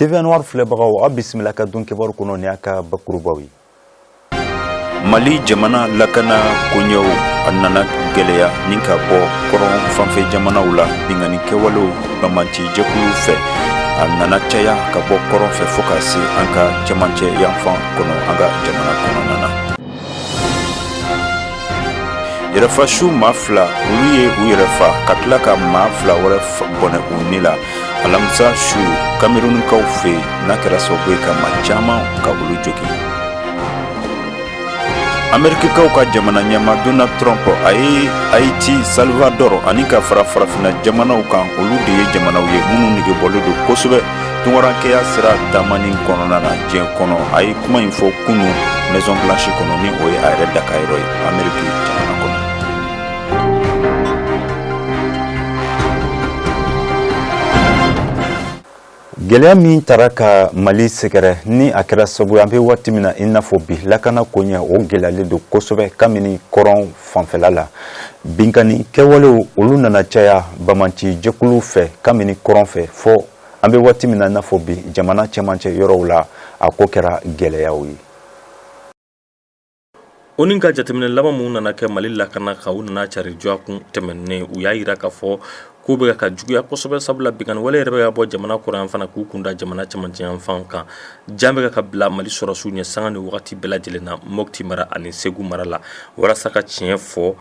TV Noir filɛbagaw a bisimila ka don kibaru kɔnɔ ni a ka bakurubaw ye mali jamana lakana koɲɛw a nana gɛlɛya ni ka bɔ kɔrɔn fanfɛ jamanaw la binkanni kɛwalew bamanci jɛkulu fɛ a nana caya ka bɔ kɔrɔn fɛ fo ka se an ka cɛmancɛ yanfan kɔnɔ an ka jamana kɔnɔna na yɛrɛfa su maa fila olu ye u yɛrɛ fa ka tila ka maa fila wɛrɛ bɔnɛ u ni la alamisa su kamerunikaw fɛ n'a kɛra sababu ye ka maa caman ka olu jogin amerikikaw ka jamana ɲɛma donald trump a ye haiti salvador ani ka fara farafinna jamanaw kan olu de ye jamanaw ye minnu negebɔlen don kosɛbɛ tunkarankɛya sira taamani kɔnɔna na diɲɛ kɔnɔ a ye kuma in fɔ kunu maison blanche kɔnɔ ni o ye a yɛrɛ dakayɔrɔ ye ameriki jamana kɔnɔ gwɛlɛya min tara ka mali sɛgɛrɛ ni a kɛra sabu an be waati min na i n'a fɔ bi lakana koɲɛ o gwɛlɛyalen don kosɛbɛ kabini kɔrɔn fanfɛla la binkanni kɛwalew olu nana caya bamanci jɛkuluw fɛ kabini kɔrɔn fɛ fo an bɛ waati min na i n'a fɔ bi jamana cɛmancɛ yɔrɔw la a ko kɛra gɛlɛyaw ye ONU ka jateminɛ laban minnu nana kɛ mali lakana kan u nana cari dɔgɔkun tɛmɛnen u y'a jira k'a fɔ kow bɛ ka juguya kosɛbɛ sabula binkanni wale yɛrɛ bɛ ka bɔ jamana kɔrɔn yanfan na k'u kun da jamana cɛmancɛ yanfan kan, jan bɛ ka bila Mali sɔrɔdasiw ɲɛ sanga ni waati bɛɛ lajɛlen na Mopti mara ani Segu mara la walasa ka tiɲɛ fɔ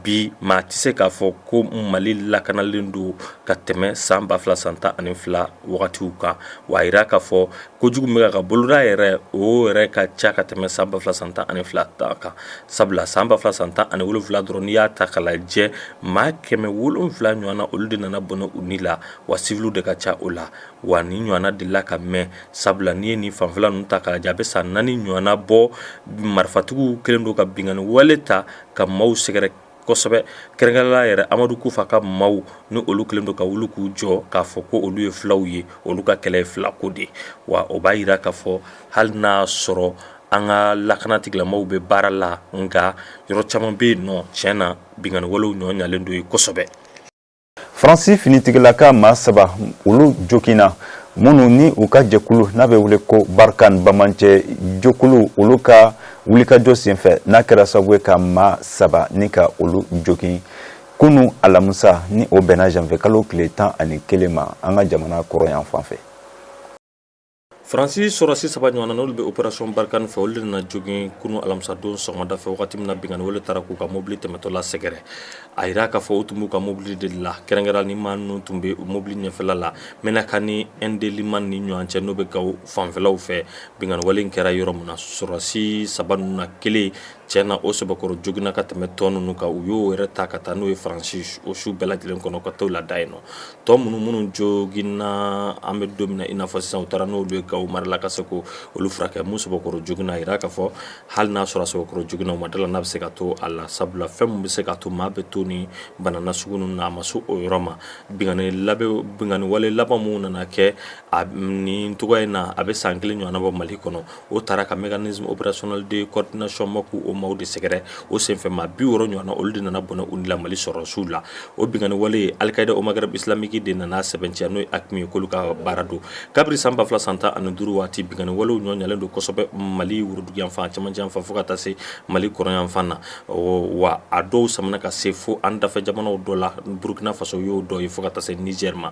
bi maa tɛ se k'a fɔ ko Mali lakanalen don ka tɛmɛ san 2000 san 12 wagatiw kan, wa a jira k'a fɔ kojugu bɛ ka boloda yɛrɛ o yɛrɛ ka ca ka tɛmɛ san ba fila san tan ani fila ta kan sabula san ba fila san tan ani wolonwula dɔrɔn n'i y'a ta k'a lajɛ maa kɛmɛ wolonwula ɲɔgɔn na olu de nana bɔnɛ u ni la wa siwili de ka ca o la wa ni ɲɔgɔnna delila ka mɛn sabula n'i ye nin fanfɛla ninnu ta k'a lajɛ a bɛ san naani ɲɔgɔnna bɔ marifatigiw kelen don ka binkanni wale ta ka maaw sɛgɛrɛ kosɛbɛ kɛrɛnkɛrɛnnenya la yɛrɛ amadu kufa ka maaw ni olu kelen don ka wuli k'u jɔ k'a fɔ ko olu ye filaw ye olu ka kɛlɛ ye fila ko de wa o b'a jira k'a fɔ hali n'a sɔrɔ an ka lakana tigilamaw bɛ baara la nka yɔrɔ caman bɛ yen nɔ tiɲɛ na binkanni walew ɲɔgɔn ɲalen don yen kosɛbɛ faransi finitigilaka maa saba olu joginna minnu ni u ka jɛkulu n'a bɛ wele ko barkhane bamanci jɛkulu olu ka wulikajɔ senfɛ n'a kɛra sababu ye ka maa saba nin ka olu jogin kunu alamusa ni o bɛnna janvier kalo tile tan ani kelen ma an ka jamana kɔrɔn yanfan fɛ Fransi sɔrɔdasi saba ɲɔgɔnna n'olu bɛ opération barkhane fɛ, olu de nana jogin kunun alamisa don sɔgɔmada fɛ, wagati min na binkanni wale taara k'u ka mobili tɛmɛtɔ la sɛgɛrɛ. A jira k'a fɔ u tun b'u ka mobili de la, kɛrɛnkɛrɛnnenya la ni maa minnu tun bɛ mobili ɲɛfɛla la, Menaka ni N'Délimane ni ɲɔgɔn cɛ, n'o bɛ Gao fanfɛlaw fɛ. Binkanni wale in kɛra yɔrɔ min na, sɔrɔdasi saba ninnu na kelen, tiɲɛ na o sɛbɛkɔrɔ joginna ka tɛmɛn tɔ ninnu kan, u y'o yɛrɛ ta ka taa n'o ye Fransi o su bɛɛ lajɛlen kɔnɔ ka t'o lada yen nɔ. tɔ minnu minnu joginna an bɛ don min na i n'a fɔ sisan u taara n'olu ye Gawo mara la ka se ko olu furakɛ min sɔbɔkɔrɔ joginna a jira k'a fɔ hali n'a sɔrɔ a sɔbɔkɔrɔ joginna u ma d'a la n'a bɛ se ka to a la sabula fɛn min bɛ se ka to maa bɛ to ni bana nasugu ninnu na a ma se o yɔrɔ ma binkanni wale laban min nana kɛ a nin cogoya in na a bɛ san kelen ɲɔgɔnna bɔ Mali kɔnɔ o taara ka mécanisme opérationnel de coordination MOC o maaw de sɛgɛrɛ o senfɛ maa bi wɔɔrɔ ɲɔgɔn na olu de nana bɔnɛ u ni la mali sɔrɔdasiw la o binkanni wale Al-Qaïda au Maghreb islamique de nana sɛbɛntiya n'o ye AQMI ye k'olu ka baara don kabiri san ba fila san tan ani duuru waati binkanni walew nɔgɔyalen don kosɛbɛ mali woroduguyanfan cɛmancɛyanfan fo ka taa se mali kɔrɔnyanfan na wa a dɔw samana ka se fo an dafɛ jamanaw dɔ la burukina faso y'o dɔ ye fo ka taa se nizɛri ma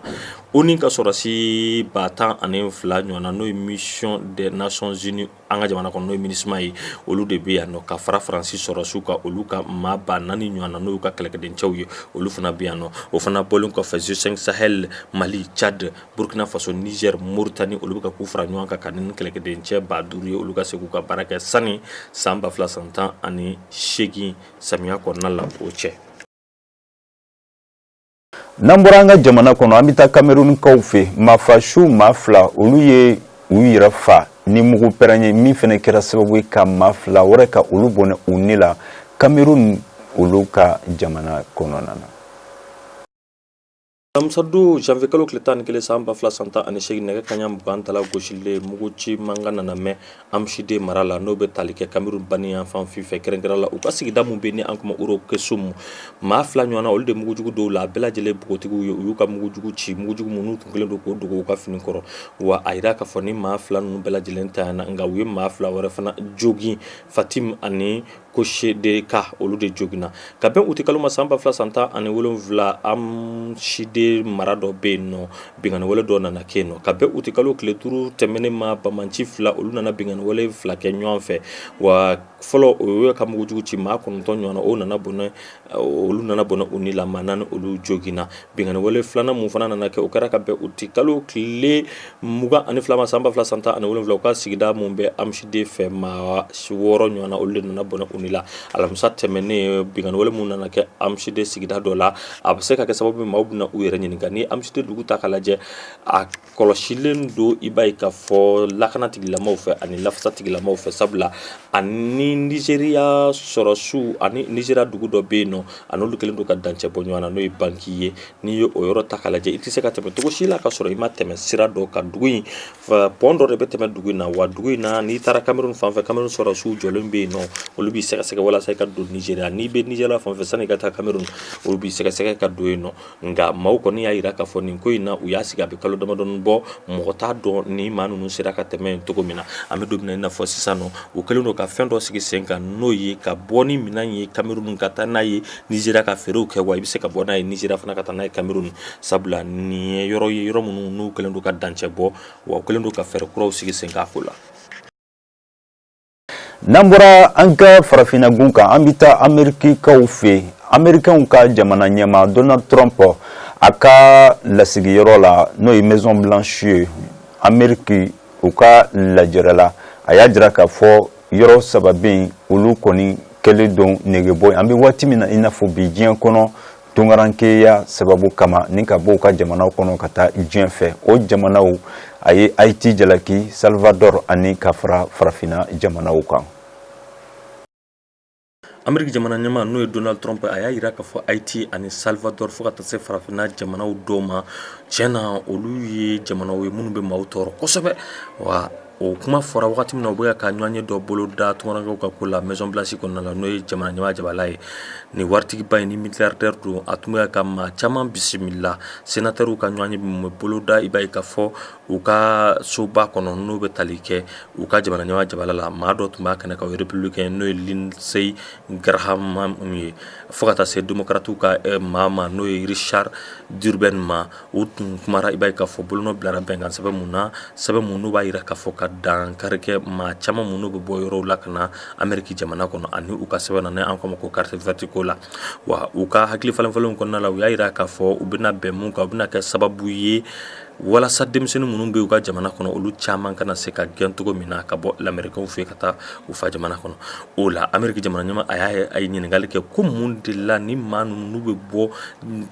ONU ka sɔrɔdasi ba tan ani fila ɲɔgɔn na n'o ye mission des nations unies an ka jamana kɔnɔ n'o ye Minusma ye olu de bɛ yan nɔ ka fara Faransi sɔrɔdasiw kan olu ka maa ba naani ɲɔgɔn na n'o y'u ka kɛlɛkɛdencɛw ye olu fana bɛ yan nɔ o fana bɔlen kɔfɛ G5 Sahel Mali Tchad Burkina Faso Niger Mauritanie olu bɛ ka k'u fara ɲɔgɔn kan ka na ni kɛlɛkɛdencɛ ba duuru ye olu ka se k'u ka baara kɛ sani san ba fila san tan ani seegin samiya kɔnɔna la o cɛ. n'an bɔra an ka jamana kɔnɔ an bɛ taa kamerunikaw fɛ maafasu maa fila olu ye u yɛrɛ fa ni mugu pɛrɛn ye min fana kɛra sababu ye ka maa fila wɛrɛ ka olu bɔnɛ u ni la kamerun olu ka jamana kɔnɔna na alamisa-don janvier kalo tile tan ni kelen san ba fila san tan ani seegin nɛgɛ kanɲɛ mugan tala gosili mugu ci mankan nana mɛn Amchidé mara la n'o bɛ tali kɛ kamerun banniyanfan fɛ kɛrɛnkɛrɛn la u ka sigida min bɛ ni an k'o ma Ouro-Kessoum maa fila ɲɔgɔnna olu de mugujugu dɔw la a bɛɛ lajɛlen npogotigiw ye u y'u ka mugujugu ci mugujugu minnu tun kɛlen don k'o dogo u ka fini kɔrɔ wa a jira k'a fɔ ni maa fila ninnu bɛɛ lajɛlen tanyana nka u ye maa fila wɛrɛ fana jogin Fatime ani Koshe de ka olu de joginna ka bɛn uti kalo ma san ba fila san tan ani wolonwula Amchidé mara dɔ bɛ yen nɔ binkanni wale dɔ nana kɛ yen nɔ ka bɛn uti kalo tile duuru tɛmɛnen ma banbaanci fila olu nana binkanni wale fila kɛ ɲɔgɔn fɛ wa fɔlɔ o y'a ka mugujugu ci maa kɔnɔntɔn ɲɔgɔnna o nana bɔnɛ olu nana bɔnɛ u ni la maa naani olu joginna binkanni wale filanan min fana nana kɛ o kɛra ka bɛn uti kalo tile mugan ani fila ma san ba fila san tan ani wolonwula u ka sigida min bɛ Amchidé fɛ maa wɔɔrɔ ɲɔgɔn na olu de nana bɔnɛ u ni la alamisa tɛmɛnen binkanni wale min nana kɛ Amchidé sigida dɔ la a bɛ se ka kɛ sababu maaw bɛna u yɛrɛ ɲininka ni Amchidé dugu ta k'a lajɛ kɔlɔsilen don i b'a ye k'a fɔ lakana tigilamaw fɛ ani lafasa tigilamaw fɛ sabula ani nizeriya sɔrɔsiw ani nizeriya dugu dɔ bɛ yen nɔ an'olu kɛlen don ka dancɛ bɔ ɲɔgɔn na n'o ye banki ye n'i ye o yɔrɔ ta k'a lajɛ i tɛ se ka tɛmɛ cogo si la ka sɔrɔ i ma tɛmɛ sira dɔ kan dugu in pɔn dɔ de bɛ tɛmɛ dugu in na wa dugu in na n'i taara kamerun fan fɛ kamerun sɔrɔsiw jɔlen bɛ yen nɔ olu b'i sɛgɛsɛgɛ walasa i ka don nizeriya n'i bɛ nizeriya fan fɛ sanni i ka taa kamerun olu b'i sɛgɛsɛgɛ ka don yen nɔ nka maaw kɔni y'a jira k'a fɔ nin ko in na u y'a sigi a bɛ kalo damadɔnin bɔ mɔgɔ t'a dɔn ni maa ninnu sera ka tɛmɛ cogo min na an bɛ don min na i n'a fɔ sisan nɔ u kɛlen don ka fɛn dɔ sigi sen kan n'o ye ka bɔ ni minɛn ye kamerun ka taa n'a ye nizeriya ka feerew kɛ wa i bɛ se ka bɔ n'a ye nizeriya fana ka taa n'a ye kamerun sabula nin ye yɔrɔ ye yɔrɔ minnu n'u kɛlen don ka dancɛ bɔ wa u kɛlen don ka fɛɛrɛ kuraw sigi sen kan a ko la n'an bɔra an ka farafinna gun kan an bɛ taa amerikikaw fɛ amerikɛnw ka jamana ɲɛmaa donald trump a ka lasigiyɔrɔ la n'o ye maison blanche ye ameriki u ka lajɛrɛ la a y'a jira k'a fɔ yɔrɔ saba bɛ yen olu kɔni kɛlen don negebɔ ye an bɛ waati min na i n'a fɔ bi diɲɛ kɔnɔ Tunkarankeya sababu kama ni ka bɔ u ka jamana kɔnɔ ka taa diɲɛ fɛ o jamanaw a ye ayiti jalaki salvador ani ka fara farafinna jamanaw kan ameriki jamana ɲɛmaa n'o ye donald trump a y'a jira k'a fɔ ayiti ani salvador fo ka taa se farafinna jamanaw dɔw ma tiɲɛ na olu ye jamanaw ye minnu bɛ maaw tɔɔrɔ kosɛbɛ wa o kuma fɔra wagati min na u bɛ ka ɲɔgɔnye dɔ boloda tunkarankew ka ko la maison blanche kɔnɔna la n'o ye jamana ɲɛmaa jabala ye nin waritigiba in ni milliardaire don a tun bɛ ka maa caman bisimila senatɛrw ka ɲɔgɔnye bɛ boloda i b'a ye k'a fɔ u ka soba kɔnɔ n'o bɛ tali kɛ u ka jamana ɲɛmaa jabala la maa dɔ tun b'a kɛnɛ kan o ye républicain n'o ye lindsey graham ye fo ka taa se démocrate ka maa ma n'o ye richard durbin ma u tun kumara i b'a ye k'a fɔ bolonɔ bilara bɛnkan sɛbɛn mun na sɛbɛn minnu b'a jira k'a fɔ ka dankari kɛ maa caman minnu bɛ bɔ yɔrɔw la ka na ameriki jamana kɔnɔ ani u ka sɛbɛn na an k'o ma ko carte verte ko la wa u ka hakili falenfalenw kɔnɔna la u y'a jira k'a fɔ u bɛna bɛn mun kan u bɛna kɛ sababu ye walasa denmisɛnnin minnu bɛ u ka jamana kɔnɔ olu caman kana se ka gɛn cogo min na ka bɔ lamerikaw fɛ ka taa u fa jamana kɔnɔ o la ameriki jamana ɲɛmaa a ye ɲininkakali kɛ ko mun de la ni maa ninnu bɛ bɔ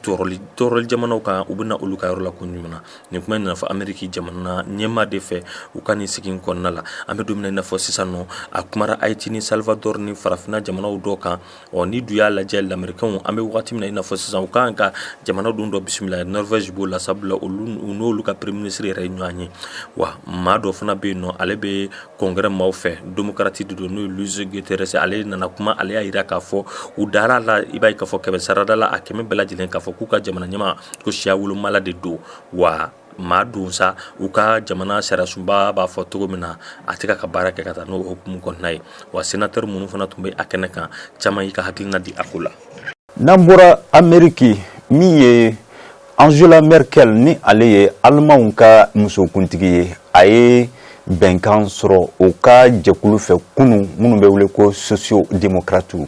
tɔɔrɔli tɔɔrɔli jamanaw kan u bɛna olu ka yɔrɔ la ko ɲuman na nin kuma in nana fɔ ameriki jamana ɲɛmaa de fɛ u ka nin sigi in kɔnɔna la an bɛ don min na i n'a fɔ sisan nɔ a kumara ayiti ni salvador ni farafinna jamanaw dɔ kan ɔ n'i dun y'a lajɛ lamerikaw an bɛ wagati min na i n'a fɔ sisan u ka kan ka jamana dun dɔ bisimila norvege b'o la sabula olu n'olu ka premier minisiri yɛrɛ ye ɲɔgɔn ye wa maa dɔ fana bɛ yen nɔ ale bɛ congrès maaw fɛ démocrate de don n'o ye Luis Gutiérrez ale nana kuma ale y'a jira k'a fɔ u dara la i b'a ye k'a fɔ kɛmɛ sarada la a kɛmɛ bɛɛ lajɛlen k'a fɔ k'u ka jamana ɲɛmaa ko siya wolomala de don wa maa don sa u ka jamana sariyasunba b'a fɔ cogo min na a tɛ ka ka baara kɛ ka taa n'o hukumu kɔnɔna ye wa sénateur minnu fana tun bɛ a kɛnɛ kan caman y'i ka hakiliina di a ko la n'an bɔra ameriki min ye angela merkel ni ale ye alimanw ka musokuntigi ye a ye bɛnkan sɔrɔ o ka jɛkulu fɛ kunu minnu bɛ wele ko socio demokratiw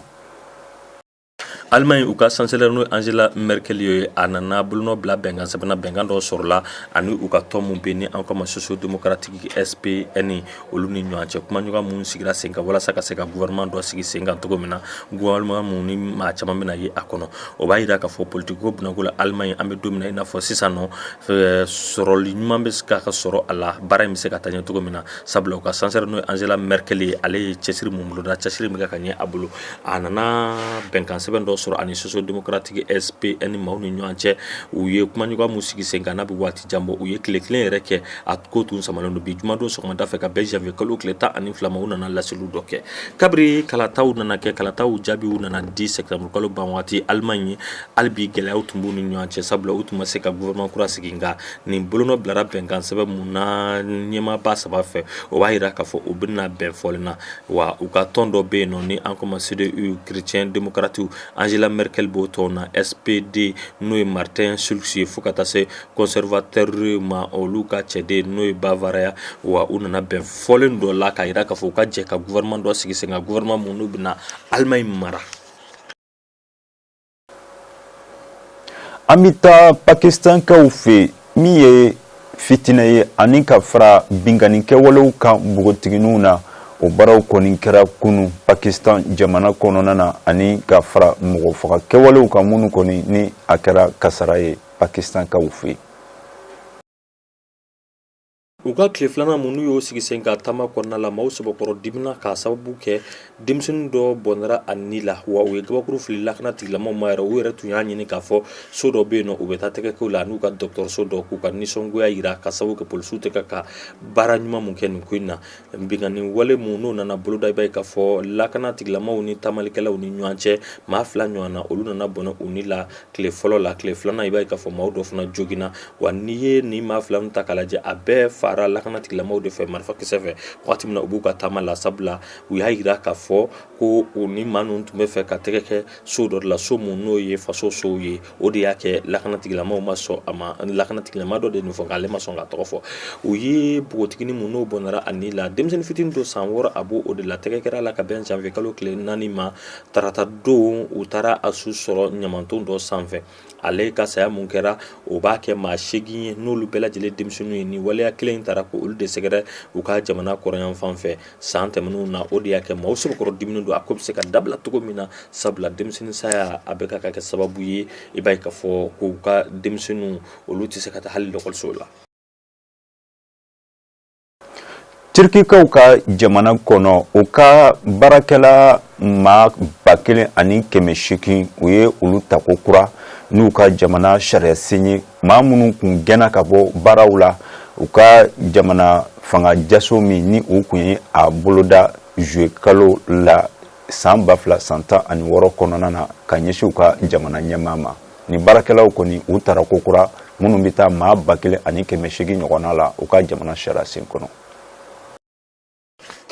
Allemagne u ka chancelière n'o Angela Merkel ye a nana bolonɔ bila bɛnkan sɛbɛn na bɛnkan dɔ sɔrɔla ani u ka tɔn min bɛ ni an k'a ma socio démocratique SPN olu ni ɲɔgɔn cɛ kumaɲɔgɔn minnu sigira sen kan walasa ka se ka gouvernement dɔ sigi sen kan cogo min na gouvernement min ni maa caman bɛna ye a kɔnɔ o b'a jira k'a fɔ politikiko binako la Allemagne an bɛ don min na i n'a fɔ sisan nɔ sɔrɔli ɲuman bɛ ka ka sɔrɔ a la baara in bɛ se ka taa ɲɛ cogo min na sabula u ka chancelière n'o ye Angela Merkel ye ale ye cɛsiri mun boloda cɛsiri min bɛ ka ɲɛ a bolo a nana bɛnkan sɛbɛn dɔ sɔrɔ ani socio démocratique SPN maaw ni ɲɔgɔn cɛ u ye kumaɲɔgɔn minnu sigi sen kan n'a bɛ waati jan bɔ u ye tile kelen yɛrɛ kɛ a ko tun samalen don bi jumadon sɔgɔmada fɛ ka bɛn janvier kalo tile tan ani fila ma u nana laseliw dɔ kɛ kabiri kalataw nana kɛ kalataw jaabiw nana di septembre kalo ban waati Allemagne hali bi gɛlɛyaw tun b'u ni ɲɔgɔn cɛ sabula u tun ma se ka gouvernement kura sigi nka nin bolonɔ bilara bɛnkan sɛbɛn mun na ɲɛmaaba saba fɛ o b'a jira k'a fɔ u bɛna bɛn fɔlen na wa u ka tɔn dɔ bɛ yen nɔ ni an k'a ma CDU chrétien demokratiw Angela Merkel b'o tɔn na SPD n'o ye Martin Schulz ye fo ka taa se conservateur ma olu ka cɛden n'o ye Bavaria wa u nana bɛn fɔlen dɔ la k'a jira k'a fɔ u ka jɛ ka gouvernement dɔ sigi sen kan gouvernement min n'u bɛna Allemagne mara an bɛ taa pakistankaw fɛ min ye fitinɛ ye ani ka fara binkanni kɛwalew kan npogotigininw na o baaraw kɔni kɛra kunun Pakistan jamana kɔnɔna na ani ka fara mɔgɔ faga kɛwalew kan minnu kɔni ni a kɛra kasara ye Pakistankaw fɛ. U ka tile filanan minnu y'o sigi sen kan taama kɔnɔna la maaw sɛbɛkɔrɔ dimina k'a sababu kɛ denmisɛnnin dɔ bɔnɛra a ni la wa u ye kabakuru fili lakana tigilamaaw ma yɛrɛ u yɛrɛ tun y'a ɲini k'a fɔ so dɔ bɛ yen nɔ u bɛ taa tɛgɛ k'o la n'u ka dɔgɔtɔrɔso dɔ k'u ka nisɔngoya jira k'a sababu kɛ polisiw tɛ ka ka baara ɲuman min kɛ nin ko in na Binkanni wale min n'o nana boloda i b'a ye k'a fɔ lakana tigilamaaw ni taamalikɛlaw ni ɲɔgɔn cɛ maa fila ɲɔgɔn na olu nana bɔnɛ u ni la tile fɔlɔ la tile filanan i b'a ye k'a fɔ maaw dɔ fana joginna wa n'i ye nin maa fila ninnu ta k'a lajɛ a bɛɛ fara lakana tigilamaaw de fɛ marifakisɛ fɛ waati min na u b'u ka taama la sabula u y'a jira k'a fɔ ko u ni maa ninnu tun bɛ fɛ ka tɛgɛ kɛ so dɔ de la so min n'o ye faso sow ye o de y'a kɛ lakanatigilamaaw ma sɔn a ma lakanatigilamaa dɔ de nin fɔ k'ale ma sɔn k'a tɔgɔ fɔ u ye npogotiginin mun n'o bɔnɛra a ni la denmisɛnnin fitinin don san wɔɔrɔ a b'o o de la tɛgɛ kɛra la ka bɛn janvier kalo tile naani ma tarata don u taara a su sɔrɔ ɲamaton dɔ sanfɛ ale ka saya mun kɛra o b'a kɛ maa seegin ye n'olu bɛɛ lajɛlen denmisɛnninw ye ni waleya kelen in taara ko olu de sɛgɛrɛ u ka jamana kɔrɔyanfan fɛ san tɛmɛnenw na o de y'a kɛ maaw sɛbɛkɔrɔ diminen don a ko bɛ se ka dabila cogo min na sabula denmisɛnnin saya a bɛ ka kɛ sababu ye i b'a ye k'a fɔ k'u ka denmisɛnninw olu tɛ se ka taa hali lɔkɔliso la Turkikaw ka jamana kɔnɔ u ka baarakɛla maa ba kelen ani kɛmɛ seegin u ye olu ta ko kura n'u ka jamana sariya sen ye maa minnu kun gɛnna ka bɔ baaraw la u ka jamana fanga jaso min ni u kun ye a boloda juillet kalo la san ba fila san tan ani wɔɔrɔ kɔnɔna na ka ɲɛsin u ka jamana ɲɛmaa ma ni baarakɛlaw kɔni u tara ko kura minnu bɛ taa maa ba kelen ani kɛmɛ seegin ɲɔgɔnna la u ka jamana sariya sen kɔnɔ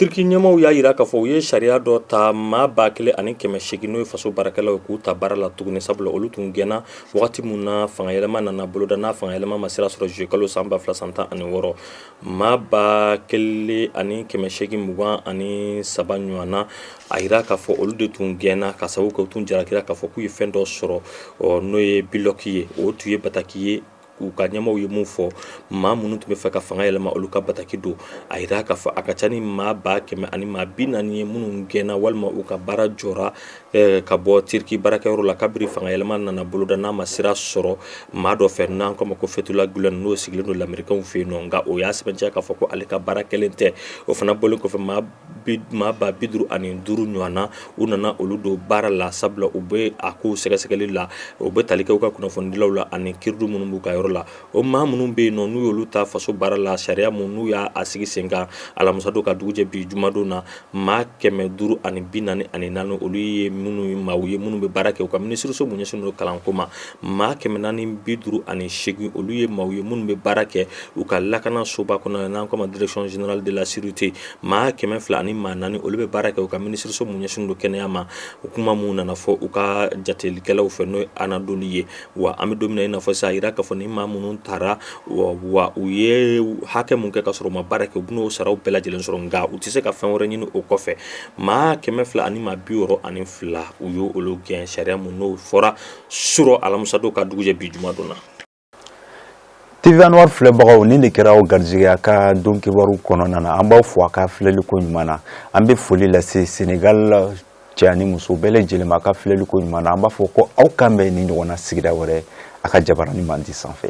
Turki ɲɛmaaw y'a yira k'a fɔ u ye sariya dɔ ta maa ba kelen ani kɛmɛ segin n'o ye faso baarakɛlaw ye k'u ta baara la tuguni sabula olu tun gɛnna wagati mun na fangayɛlɛma nana boloda n'a fangayɛlɛma ma sira sɔrɔ juillet kalo san ba fila san tan ani wɔɔrɔ maa ba kelen ani kɛmɛ segin mugan ani saba ɲɔgɔnna a yira k'a fɔ olu de tun gɛnna ka sababu kɛ u tun jarakira k'a fɔ k'u ye fɛn dɔ sɔrɔ n'o ye ByLock ye o tun ye bataki ye k'u ka ɲɛmaaw ye mun fɔ maa minnu tun bɛ fɛ ka fanga yɛlɛma olu ka bataki don a yira k'a fɔ a ka ca ni maa ba kɛmɛ ani maa bi naani ye minnu gɛnna walima u ka baara jɔra eh, ka bɔ Turki baarakɛyɔrɔ la kabiri fanga yɛlɛma nana boloda n'a ma sira sɔrɔ maa dɔ fɛ n'an k'o ma ko Fethullah Gulen n'o sigilen don Lamerikɛnw fɛ yen nɔ nka o y'a sɛbɛntiya k'a fɔ ko ale ka baara kɛlen tɛ o fana bɔlen kɔfɛ maa maa ba bi duuru ani duuru ɲɔgɔn na u nana olu don baara la sabula u bɛ a kow sɛgɛsɛgɛli la o bɛ tali kɛ u ka kunnafonidilaw la ani Kiridiw minnu b'u ka yɔrɔ la o maa minnu bɛ yen nɔ n'u y'olu ta faso baara la sariya mun n'u y'a sigi senkan alamisadon ka dugujɛ bi jumadon na maa kɛmɛ duuru ani bi naani ani naani olu ye minnu maaw ye minnu bɛ baara kɛ u ka minisiriso mun ɲɛsinnen don kalanko ma maa kɛmɛ naani bi duuru ani segin olu ye maaw ye minnu bɛ baara kɛ u ka lakana soba kɔnɔ n'an k'o ma direction générale de la sécurité maa kɛmɛ fila ani maa naani olu bɛ baara kɛ u ka minisiriso mun ɲɛsinnen don kɛnɛya ma o kuma mun nana fɔ u ka jatelikɛlaw fɛ n'o ye Anadolu ye wa an bɛ don min na i n'a fɔ sisan a yira k'a fɔ ni maa minnu tara wa u ye hakɛ mun kɛ k'a sɔrɔ u ma baara kɛ u bɛn'o saraw bɛɛ lajɛlen sɔrɔ nka u tɛ se ka fɛn wɛrɛ ɲini o kɔfɛ maa kɛmɛ fila ani maa bi wɔɔrɔ ani fila u ye olu gɛn sariya mun n'o fɔra surɔ alamisadon ka dugujɛ bi jumadon na TV Anwar filɛbagaw ni de kɛra aw garijɛgɛ y'a ka don kibaru kɔnɔna na an b'aw fo a ka filɛliko ɲuman na an bɛ foli lase Senegal cɛ ani muso bɛɛ lajɛlen ma a ka filɛliko ɲuman na an b'a fɔ ko aw kanbɛn ni ɲɔgɔnna sigida wɛrɛ a ka jabaranin man di sanfɛ